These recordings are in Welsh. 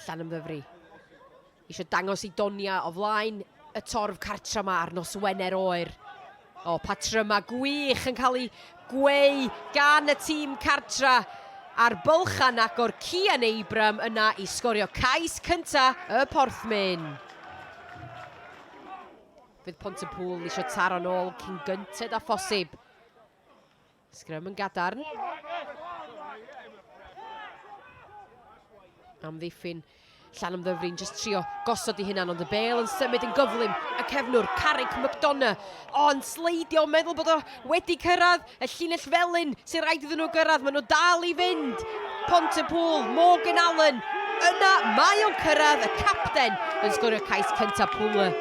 Llanymddyfri eisiau dangos i Donia o flaen y torf cartra ma ar nos Wener oer. O, patrymau gwych yn cael ei gweu gan y tîm cartra a'r bylchan agor Cian Abram yna i sgorio cais cynta y Porthmyn. Fydd Pont y Pŵl eisiau taro'n ôl cyn gynted a phosib. Sgrym yn gadarn. Amddiffyn Llan ymddyfrin, jyst trio gosod i hynna, ond y bel yn symud yn gyflym. Y cefnwr, Carrick McDonough, o'n sleidio, meddwl bod o wedi cyrraedd y llinell felyn sy'n rhaid iddyn nhw gyrraedd. Maen nhw dal i fynd. Pont y pŵl, Morgan Allen. Yna mae o'n cyrraedd y capten yn sgorio cais cyntaf pŵl.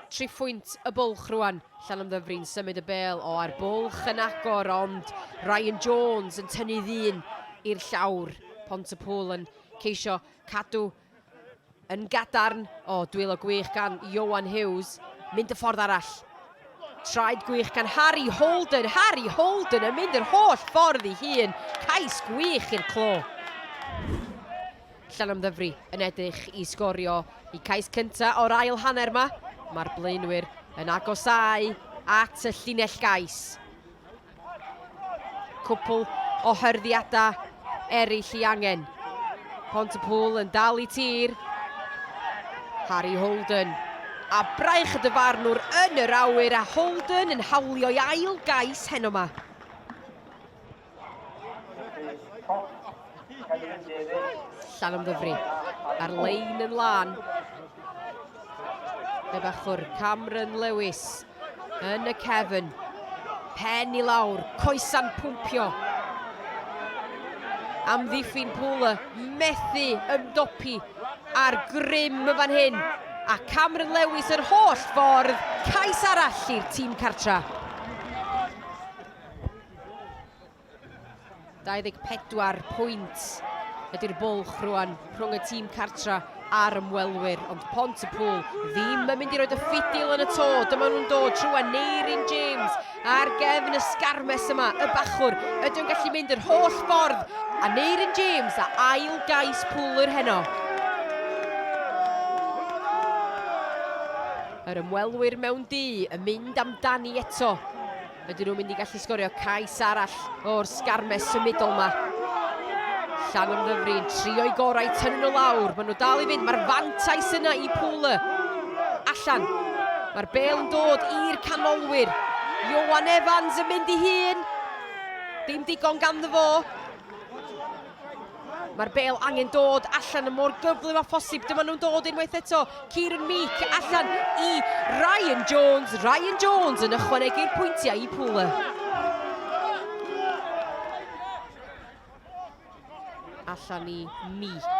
Triphwynt y bwlch rwan. Llanymddyfri'n symud y bêl o air bwlch yn agor ond Ryan Jones yn tynnu ddyn i'r llawr. Pontypool yn ceisio cadw yn gadarn. O, dwylo gwych gan Ioan Hughes. Mynd y ffordd arall. Traed gwych gan Harry Holden. Harry Holden yn mynd yr holl ffordd i hun. Cais gwych i'r clo. Llanymddyfri yn edrych i sgorio y cais cyntaf o'r ail hanner yma. Mae'r blaenwyr yn agosau at y llinell gais. Cwpl o hyrddiadau eraill i angen. Pont y Pŵl yn dal i tir. Harry Holden. A braich y dyfarnwr yn yr awyr a Holden yn hawlio'i ail gais heno yma. Llanymddyfri ar lein yn lan. Fe bachwr Cameron Lewis yn y cefn. Pen i lawr, coesa'n pwmpio. Amddiffyn Pŵl y methu ymdopi ar grym y fan hyn. A Cameron Lewis yr holl ffordd, cais arall i'r tîm cartra. 24 pwynt ydy'r bwlch rwan rhwng y tîm cartra a'r ymwelwyr, ond Pont y Pŵl ddim yn mynd i roed y ffidil yn y to. Dyma nhw'n dod trwy a Neirin James ar gefn y sgarmes yma, y bachwr. Ydy'n gallu mynd yr holl ffordd a Neirin James a ail gais pŵl yr heno. Yr ymwelwyr mewn du yn mynd amdani eto. Ydyn nhw'n mynd i gallu sgorio cais arall o'r sgarmes symudol yma? Llan yn ddyfrin, trio'i gorau i tynnu nhw lawr. Maen nhw dal i fynd, mae'r fantais yna i Pŵle. Allan. Mae'r bel yn dod i'r canolwyr. Iowan Evans yn mynd i hun. Dim digon ganddo fo. Mae'r bêl angen dod allan yn mor gyflym â phosib. Dyma nhw'n dod unwaith eto. Kieran Meek allan i Ryan Jones. Ryan Jones yn ychwanegu'r pwyntiau i Pwle. Allan i Meek.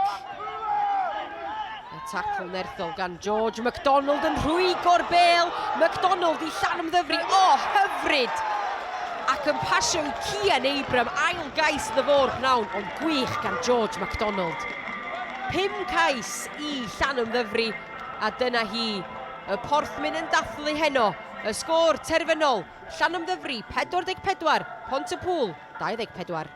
A tacl nerthol gan George McDonald yn rhwygo'r bel. McDonald i llan ymddyfri. O, oh, hyfryd! Ac yn pasio i Cian Abram, ail gais iddo fo'r pnawn, ond gwych gan George McDonald. Pum cais i llan ymddyfri, a dyna hi. Y porthmyn yn dathlu heno. Y sgôr terfynol, llan ymddyfri 44, Pont y Pŵl 24.